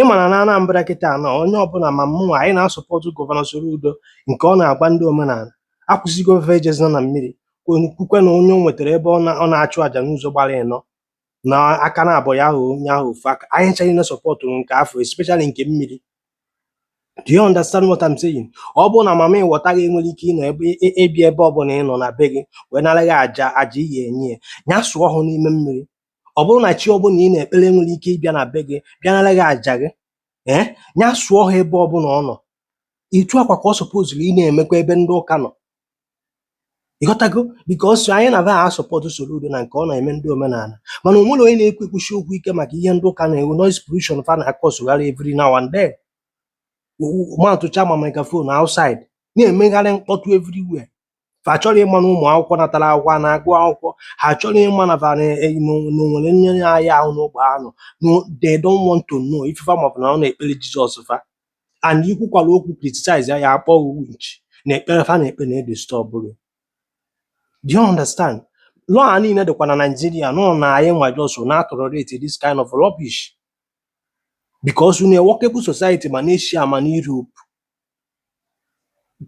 ị ma na n'Anambra kịta a na onye ọbụla ma mụ anyị na-asọpọtụ gọvanọ Soludo nke ọ na-agwa ndị omenala kwụsị gwa fa ejezina na mmiri kwukwe na onye o nwetara ebe ọ na-achụ àjà n'ụzọ gbara ịnọ na aka na abụọ ya ahụ onye ahụ ofu aka anyị ncha na-asọpọtụ nke afụ especially nke mmiri do you understand what I'm saying ọ bụrụ na mami wọta gị enwerọ ike ịnọ ebe ịbịa ebe ọbụla ịnọ na be gị wee nara gị aja aja ị ya-enye ya ya sụọ ọhụ n'ime mmiri ọ bụrụ na chi ọbụla ị na-ekpere enwerọ ike ịbịa na be gị bịanara gị aja gị ee ya sụọ ọhụ ebe ọbụla ọ nọ etu a kwa ka ọ sọpozuru ị na-emekwa ebe ndị ụka nọ ịghọtago bikos anyị na-abịa asọpọtụ Soludo na nke ọ na-eme ndị omenala mana o nwerọ onye na-ekwu ekwusi okwu ike maka ihe ndị ụka na-eme noise pollution fa na-akọsụgharị every now and then matụcha ma microphone outside na-emegharị mkpọtụ everywhere fa achọrọ ịma na ụmụ akwụkwọ natara akwụkwọ a na-agụ akwụkwọ ha achọrọ ịma na fa na- eh, na o- na o nwere onye na-arịa ahụ n'ogbe anụ no they don't want to know ife fa ma bụ na ọ na-ekpere jizọs fa and ikwukwala okwu criticize ya ya akpọ gị winch na ekpere fa na-ekpe na-edistọb gị do you understand lọọ a niile dịkwa na naijiria nọ na anyị nwa just na-atolerate this kind of rubbish because na workable society ma n'Asia ma n'europe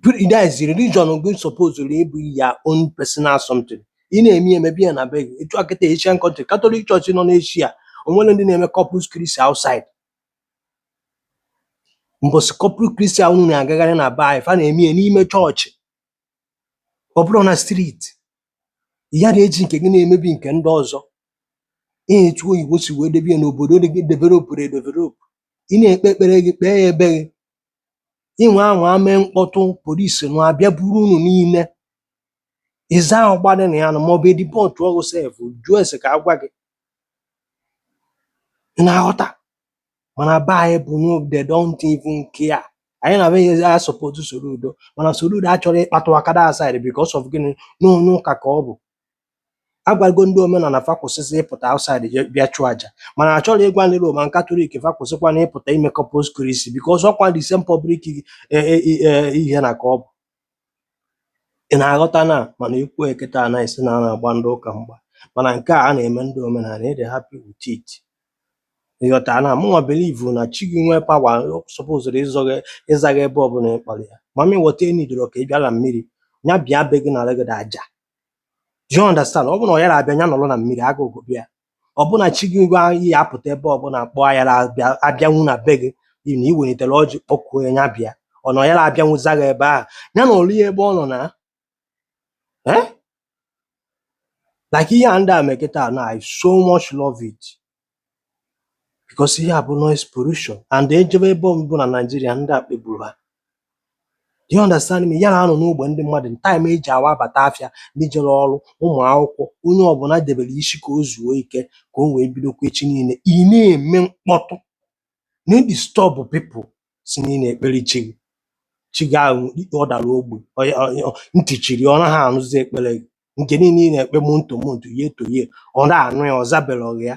That is religion gị supposed ịbụ your own personal something. Ị na-eme ya mebe ya na be gị. Etu a kịta Asian country, Catholic Church nọ n'Asia, o nwerọ ndị na-eme corpus Christi outside. Mbọsị corpus Christi ahụ unu na-agagharị na be anyị, fa na-eme ya n'ime chọọchị. Ọ bụrọ na street. Ị yara eji nke gị na-emebi nke ndị ọzọ. Etu oyibo si wee debe ya n'obodo ndị developụrụ edevelopụ. Ị na-ekpe ekpere gị kpee ya be gị. Ị nwaa anwa mee mkpọtụ, police nwa abịa buru unu niile. Either ahụ gbadị na ya nụ maọbụ e dipọtụọ gị sef, jụọ ese ka a gwa gị. Ị na-aghọta? mana be anyị bụ no they don't even care anyị na-abịazi asupport Soludo mana Soludo achọrọ ịkpatụ aka that side because of gịnị na onye ụka ka ọ bụ a gwago ndị omenala fa kwụsịzị ịpụta outside je bịa chụọ aja mana achọrọ ịgwa ndị Roman Katọlik fa kwụsịkwanụ ịpụta ime Corpus Christi because ọkwa the same public eh, eh, eh, ihe na ka ọ bụ Ị na-aghọta na mana i kwuo ya kịta a na-asị na a na-agba ndị ụka mgba mana nke a a na-eme ndị omenala ị dị happy with it. Ị ghọtara na mụnwa believe na chi gị nwee pawa o sọpozuru ịzọ gị ịza gị ebe ọbụla ị kpọrọ ya. Mami wọta enidoro ka ị bịa na mmiri ya bịa be gị nara gị aja. Do you understand? Ọ bụrụ na ọ yara abịa ya nọrọ na mmiri agụụ gụbe ya. ọ bụ na chi gị ngwa iyi apụta ebe ọbụla kpọọ ayara abịa- abịanwu na be gị ị na iwelitere ọjị kpọkuo ya ya bịa ọ na ọ yara abịanwu za gị ebe ahụ ya nọlụ ya ebe ọ nọ na eh? like ihe a ndị a me kịta na I so much love it because ihe a bụ noise pollution and e jebe ebe ọbụla na Naịjirịa ndị a kpegburu ha Do you understand me? Ya na anọ n'ogbe ndị mmadụ time e ji awa abata afịa, ndị jere ọrụ, ụmụ akwụkwọ, onye ọbụla debere isi ka o zuo ike ka o wee bidokwa echi niile. Ị na-eme mkpọtụ, na-edisturb people sị na ị na-ekpere chi gị. Chi gị ahụ ị kpe ọ dara ogbi, ọ ya- ọ- ọ- ntị chiri, ọ naghị anụzi ekpere gị. Nke niile ị na-ekpe monto monto, ye to ye, ọ na-anụ ya, ọ zabereghị ya.